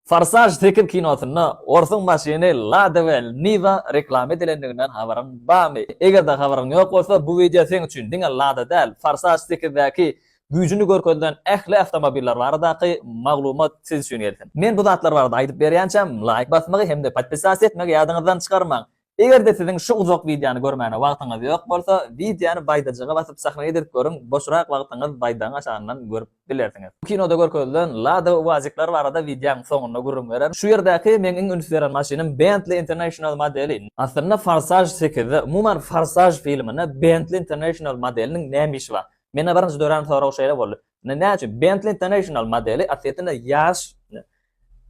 Forsaž sekiz kinosynda orsuň maşyny Lada we Niva reklama edilendiginden habaryň barmy? Eger-de habaryň ýok bolsa, bu wideo seň üçin. Diňe Lada däl, Forsaž sekizdäki güýjüni görkezilen ähli awtomobiller baradaky maglumat siz üçin gelsin. Men bu zatlar barada aýdyp berýänçäm, laýk basmagy hem-de podpisasiýa etmegi ýadyňyzdan çykarmaň. Eger-de siziň şu uzak wideony görmäne wagtyňyz ýok bolsa, wideony baýdajyga basyp sahna ýedirip görüň, boşrak wagtyňyz baýdagyň aşagyndan görüp bilersiňiz. Bu kinoda görkezilen Lada Uazikler barada wideoň soňunda gürrüň bererin. Şu ýerdäki meň iň üns beren maşynym Bentley International modeli. Aslynda Forsaj sekizde, umuman Forsaj filminde Bentley International modeliniň näme işi bar? Mende birinji dörän sorag şeýle boldy. Näçün Bentley International modeli aslynda ýaş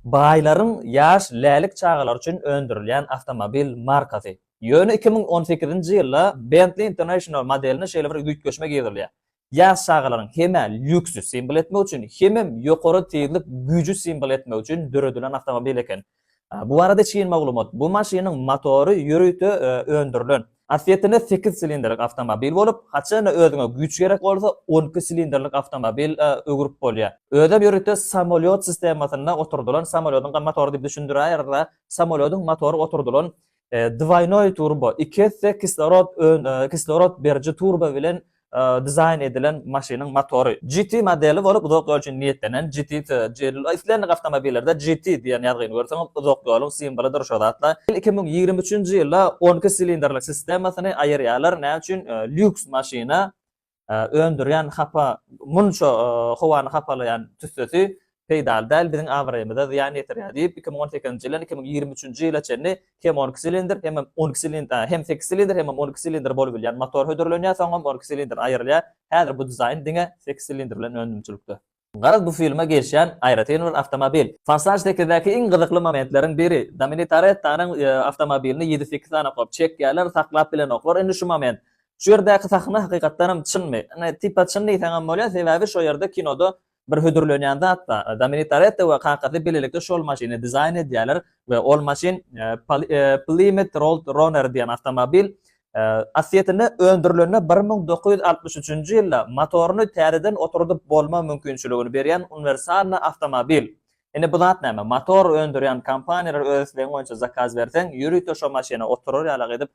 Baýlaryň ýaş lälik çagalary üçin öndürilýän awtomobil markasy. Ýöne iki müň on sekizinji ýylda Bentley International modeline şeýle bir üýtgeşme girizilýär. Ýaş çagalaryň hem-ä lýuksy simwol etmek üçin, hemem ýokary tizlik güýji simwol etmek üçin döredilen awtomobil eken. Bu barada çyn maglumat, bu maşynyň motory ýörite öndürilen. Asliyetinde sekiz silindrlik awtomobil bolup, haçanda özüňe güýç gerek bolsa, on iki silindrlik awtomobil öwrüp bolýar. Özem ýörite samolyot sistemasyna oturdylan samolyodunka motory diýip düşündiräýeris-ä. Samolyodyň motory oturdylan dwoýnoý turbo, iki esse kislorod kislorod beriji turbo bilen dizaýn edilen maşynyň motory. GT modeli bolup, uzak ýol üçin niýetlenen GT sözi, islendik awtomobillerde GT diýen ýazgyny görseňiz, uzak ýoluň simwolydyr şo zatla. Ýyl iki müň ýigrimi üçünji ýylda on iki silindrli sistemasyny aýyrýarlar, näme üçin lýuks maşyna öndürýän hapa munça howany hapalaýan tüssesi peýdaly däl, biziň abraýymyza zyýan ýetirýär diýip, iki müň on sekizinji ýyldan iki müň ýigrimi üçünji ýyla çenli hem on iki silindr, hemem on iki silindr, a, hem sekiz silindr, hemem on iki silindr bolup bilýän motor hödürlenýär, soňam on iki silindr aýrylýar. Häzir bu dizaýn diňe sekiz silindr bilen önümçilikde. Garaz, bu filme gelişýän aýratyn bir awtomobil. Forsaj sekizdäki iň gyzykly momentleriň biri, Domini Torettonyň awtomobilini ýedi-sekiz sany oklap çekýärler, saklap bilenoklar indi şu moment. Şu ýerdäki sahna hakykatdanam çynmy? Ine, tipa çyn diýseňem bolýar, sebäbi şo ýerde kinoda Bir hödürlenýän zat-da, Domini Toretto we kakasy bilelikde şol maşyny dizaýn edýärler we ol maşyn Plymouth Road Runner diýen awtomobil. Aslyýetinde öndürilende bir müň dokuz ýüz altmyş üçünji ýylda motoryny täzeden oturdyp bolma mümkinçiligini berýän uniwersalny awtomobil. Indi bu zat näme? Motor öndürýän kompaniýalar öz islegiň boýunça zakaz berseň, ýörite şo maşyna oturar ýalak edip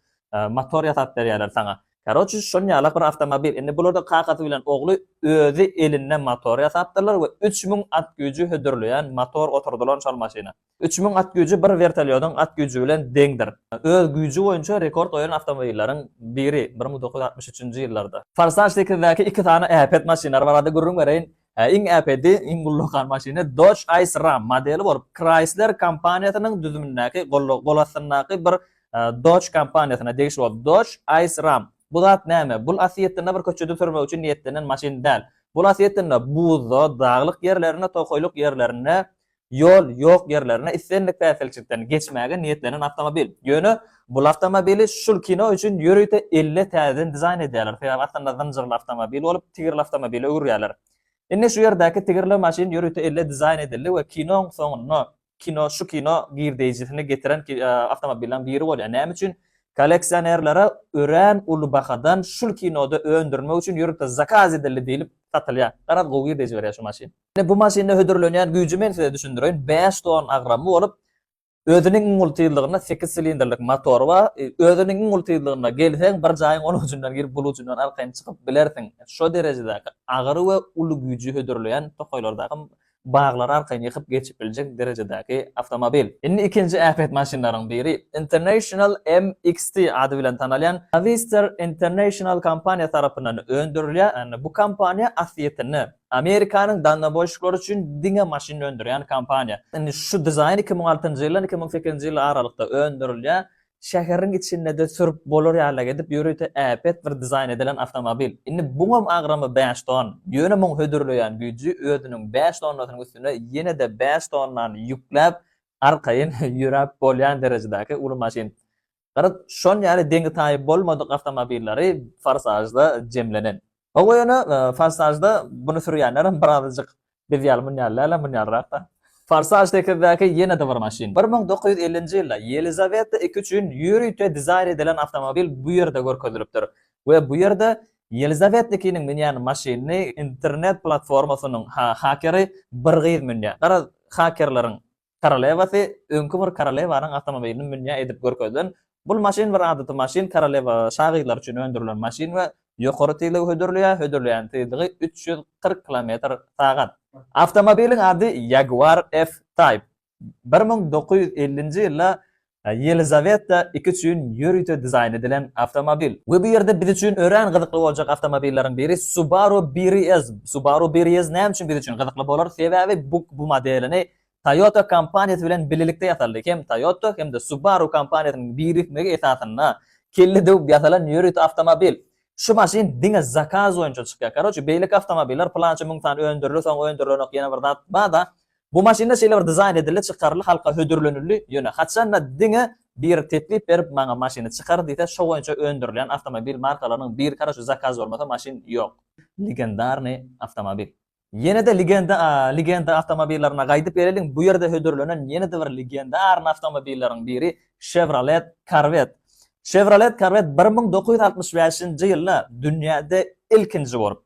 motor ýasap berýärler saňa. Karoçi şonýalak bir awtomobil. Indi bularda kakasy bilen ogly özi elinde motor ýasapdyrlar we üç müň at güýji hödürleýän motor oturdylan şol maşyna. Üç müň at güýji bir wertolýodyň at güýji bilen deňdir. Öz güýji boýunça rekord goýan awtomobilleriň biri, bir müň dokuz ýüz altmyş üçünji ýyllarda. Forsaj sekizdäki iki sany äpet maşynlar barada gürrüň bereýin. Iň äpedi, iň ullakan maşyny Dodge Ice Ram modeli bolup, Chrysler kompaniýasynyň düzümindäki, golastyndaky bir Dodge kompaniýasyna degişli bolup, Dodge Ice Ram. Bu zat näme? Bul aslyýetinde bir köçede sürmek üçin niýetlenen maşyn däl. Bul aslyýetinde buzda, daglyk ýerlerinde, tokaýlyk ýerlerinde Ýol ýok ýerlerine islendik päsgelçilikden geçmäge niýetlenen awtomobil. Ýöne bul awtomobili şul kino üçin ýörite elle täzeden dizaýn edýärler, sebäbi aslynda zynjyrly awtomobil bolup, tigirli awtomobile öwürýärler. Indi şu ýerdäki tigirli maşyn ýörite elle dizaýn edildi we kinoň soňunda kino şu kino girdeýjisini getiren awtomobilleriň biri bolýar. Näme üçin? Kolleksionerlere örän uly bahadan şul kinoda öndürmek üçin ýörite zakaz edildi diýlip satylýar. Garaz gowy girdeýji berýär şu maşyn. Ine, bu maşynda hödürlenýän güýji men size düşündireýin. Bäş ton agramy bolup, özüniň iň uly tyzlygynda sekiz silindrlik motory bar. Özüniň iň uly tyzlygynda gelseň, bir jaýyň ol ujundan girip, bul ujundan arkaýyn çykyp bilersiň. Şo derejedäki agyr we uly güýji hödürleýän tokaýlardaky baglary arkaýyn ýykyp geçip biljek derejedäki awtomobil. Indi ikinji äpet maşynlaryň biri, International MXT ady bilen tanalýan Navistar International kompaniýasy tarapyndan öndürilýär. Bu kompaniýa aslýetinde Amerikanyň dalnoboýşyklary üçin diňe maşyn öndürýän kompaniýa. Indi şu dizaýn iki müň altynjy ýyldan iki müň sekizinji ýyl aralykda öndürilýär. Şäheriň içinde-de sürüp bolar ýalyrak edip ýörite äpet bir dizaýn edilen awtomobil. Indi buňam agramy bäş ton. Ýöne muň hödürleýän güýji özüniň bäş tonnasynyň üstüne ýene-de bäş tonnany ýükläp arkaýyn ýöräp bolýan derejedäki uly maşyn. Garaz, şon ýaly deňi-taýy bolmadyk awtomobilleri Forsažda jemlenen. Hawa ýöne, Forsažda buny sürýänlerem birazajyk biz ýaly mun ýaly däl-ä, mun ýalyrak-da. Forsaž sekizdäki ýene-de bir maşyn. Bir müň dokuz ýüz ellinji ýylda Ýelizaweta ii üçin ýörite dizaýn edilen awtomobil bu ýerde görkezilipdir we bu ýerde Ýelizaweta ii-niň münýän maşynyny internet platformasynyň hakeri bir gyz münýär. Garaz, hakerleriň Korolewasy öňki bir korolewanyň awtomobilini münýä edip görkezilen Bul maşyn bir adaty maşyn, korolewa şa gyzlary üçin öndürilen maşyn we ýokary tizligi hödürleýär, hödürleýän tizligi üç ýüz kyrk kilometr sagat. Awtomobiliň ady Jaguar F-Type. Bir müň dokuz ýüz ellinji ýylda Ýelizaweta ii üçin ýörite dizaýn edilen awtomobil. We bu ýerde biz üçin örän gyzykly boljak awtomobilleriň biri Subaru BRZ. Subaru BRZ näme üçin biz üçin gyzykly bolar? Sebäbi bu bu modelini Toyota kompaniýasy bilen birlikde ýasaldy. Hem Toyota hem-de Subaru kompaniýasynyň birikmegi esasynda kelle döwüp ýasalan ýörite awtomobil. Şu maşyn diňe zakaz boýunça çykýar. Karoçi beýleki awtomobiller pylança müň sany öndüriler soň öndürilenok ýene bir zat bar-da Bu maşynda şeýle bir dizaýn edildi, çykaryldy, halka hödürlenildi, ýöne haçanda diňe biri teklip berip, maňa maşyny çykar diýse, şo boýunça öndürilýän awtomobil markalarynyň birkara şu zakaz bolmasa maşyn ýok. Legendarnyý awtomobil. Ýene-de legenda a legenda awtomobillaryna gaýdyp geleliň, bu ýerde hödürlenen ýene-de bir legendarny awtomobilleriň biri Chevrolet Corvette. Chevrolet Corvette bir müň dokuz ýüz altmyş bäşinji ýylda dünýäde ilkinji bolup,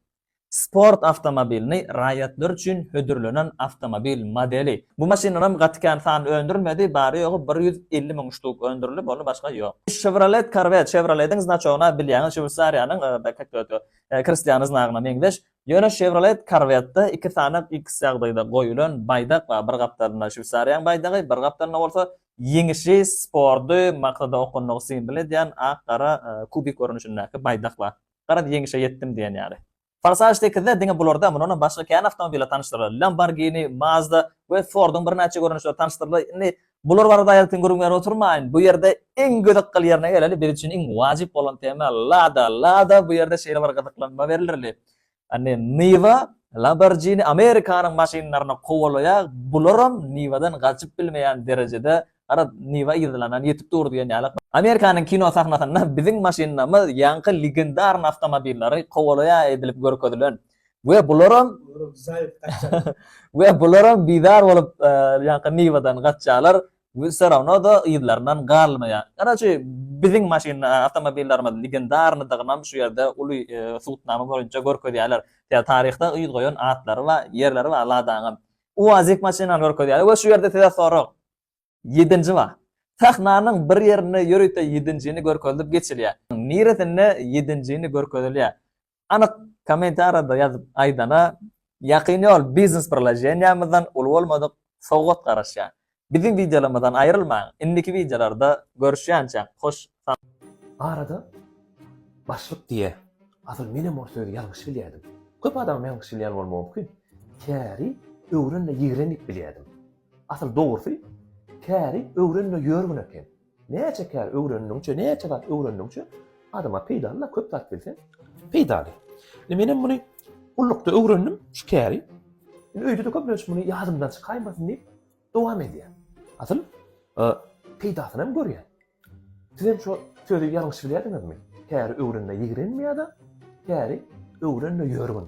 Sport awtomobilini raýatlar üçin hödürlenen awtomobil modeli. Bu maşyndanam gaty kän sany öndürilmedi, bary-ýogy bir ýüz elli müň ştuk öndürilip, ony başga ýok. Chevrolet Corvette, Chevrolet-iň znaçogyna bilýäňiz, Şweýsariýanyň Kristiany znagyna meňzeş. Ýöne Chevrolet Corvette-de iki sany X ýagdaýda goýulan baýdak bar, bir gapdalynda Şweýsariýanyň baýdagy, bir gapdalynda bolsa ýeňişi, sporty, maksada okundygy simwol edýän ak-gara kubik görnüşindäki baýdak bar. Garaz, ýeňişe ýetdim diýen ýaly. Forsage sekizde diňe bularda, mundanam başga kän awtomobil tanyşdyryldy. Lamborghini, Mazda we Ford-yň birnäçe görnüşleri tanyşdyryldy. Indi bular barada aýratyn gürrüň berip oturmaýyn. Bu ýerde iň gyzykly ýerine geleli, biz üçin iň wajyp bolan tema Lada. Lada bu ýerde şeýle bir gyzyklanma berilirli. Indi Niwa, Lamborghini Amerikanyň maşynlaryny kowalaýar, bularam Niwadan gaçyp bilmeýän derejede Garaz, Niwa yzlanan ýetip dur diýen ýaly. Amerikanyň kino sahnasynda biziň maşynlarymyz ýaňky legendarny awtomobillary kowalaýar edilip görkezilen we bularam we bularam bizar bolup ýaňky Niwadan gaçýarlar we wse rawno-da yzlaryndan galmaýar. Karaçi, biziň maşyn awtomobillarymyz legendarnydygynam şu ýerde uly subutnama boýunça görkezýärler. Taryhda yz goýan atlary bar, ýerleri bar Ladaňam. UAZik maşynany görkezýär we şu ýerde size sorag. Ýedinji wa. Sahnanyň bir ýerinde ýörite ýedinjini görkezilip geçilýär. Niresinde ýedinjini görkezilýär? Anyk kommentariýada ýazyp aýdana, Ýakyn ýol biznes priloženiýamyzdan uly bolmadyk sowgat garaşýar. Biziň wideolarymyzdan aýrylmaň indiki wideolarda görüşýänçä hoş sag Arada başlyk diýýä. Asyl menem ol sözi ýalňyş bilýädim. Köp adamam ýalňyş bilýän bolmagy mumkin. Käri öwren-de ýigren diýip bilýädim. Asyl dogrusy käri öwren-de ýörgün eken. Näçe kär öwrendiňçe, näçe zat öwrendiňçe adama peýdaly-da, köp zat bilseň peýdaly. Indi men hem muny gullukda öwrendim şu käri. Indi öýde-de köplenç muny ýadymdan çykaýmasyn diýip dowam edýän. Asyl e, peýdasyny hem görýän. Siz hem şu sözi ýalňyş bilýärdiňizmi? Käri öwrenme ýigrenme ýa-da käri öwrenme ýörgün.